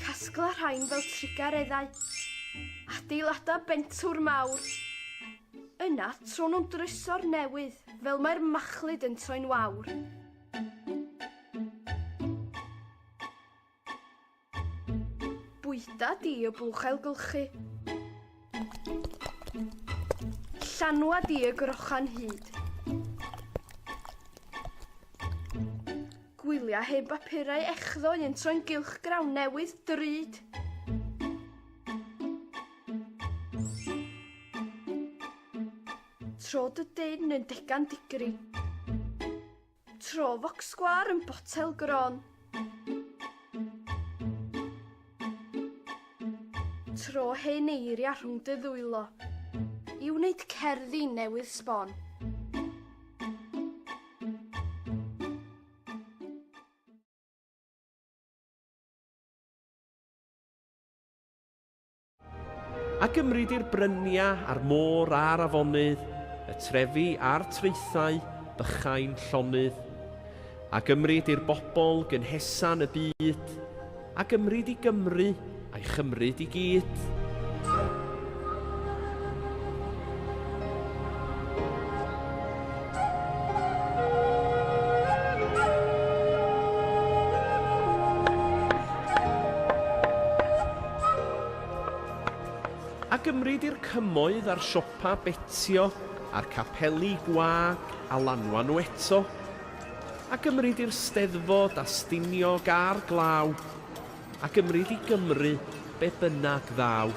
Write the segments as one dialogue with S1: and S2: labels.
S1: Casgla rhain fel trigareddau. Adeilada bentwr mawr. Yna, tro nhw'n dryso'r newydd, fel mae'r machlud yn troi'n wawr. Bwyta di y bwch ailgylchu. Llanwa di y grochan hyd. Gwylia hen bapurau echddo i yn troi'n gylch grawn newydd drud. Trod y dyn yn degan digri. Tro focsgwar yn botel gron. Tro hen eiria rhwng dy ddwylo. I wneud cerddi newydd sbon. A gymryd i'r brynia a'r môr a'r afonydd, y trefi a'r traethau bychain llonydd. A gymryd i'r bobl gynhesan y byd, a gymryd i Gymru a'i chymryd i gyd. A gymryd i'r cymoedd a'r siopa betio a'r capeli gwag a lanwa nhw eto. A gymryd i'r steddfod a stiniog a'r glaw. A gymryd i Gymru be bynnag ddaw.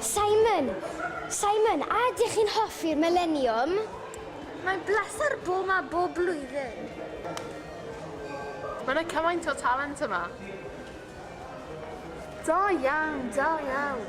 S1: Simon! Simon, a ydych chi'n hoffi'r Millennium? Mae'n bleser bod yma bob blwyddyn. Mae'n yna cymaint o talent yma. Da iawn, da iawn.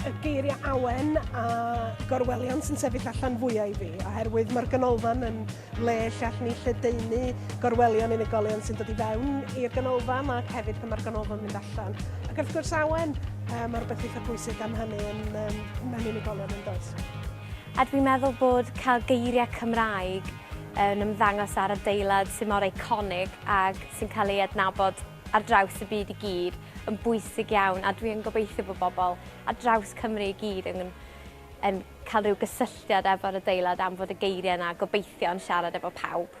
S1: y geiriau awen a gorwelion sy'n sefyll allan fwyau i fi, oherwydd mae'r ganolfan yn le lle allwn ni lledaenu gorwelion unigolion sy'n dod i fewn i'r ganolfan ac hefyd pan mae'r ganolfan mynd allan. Ac wrth gwrs awen, um, mae'r beth eitha pwysig am hynny yn, um, mewn unigolion yn does. A dwi'n meddwl bod cael geiriau Cymraeg yn ymddangos ar adeilad sy'n mor eiconig ac sy'n cael ei adnabod ar draws y byd i gyd yn bwysig iawn a dwi yn gobeithio bod bobl ar draws Cymru i gyd yn, yn cael rhyw gysylltiad efo'r adeilad am fod y geiriau yna gobeithio yn siarad efo pawb.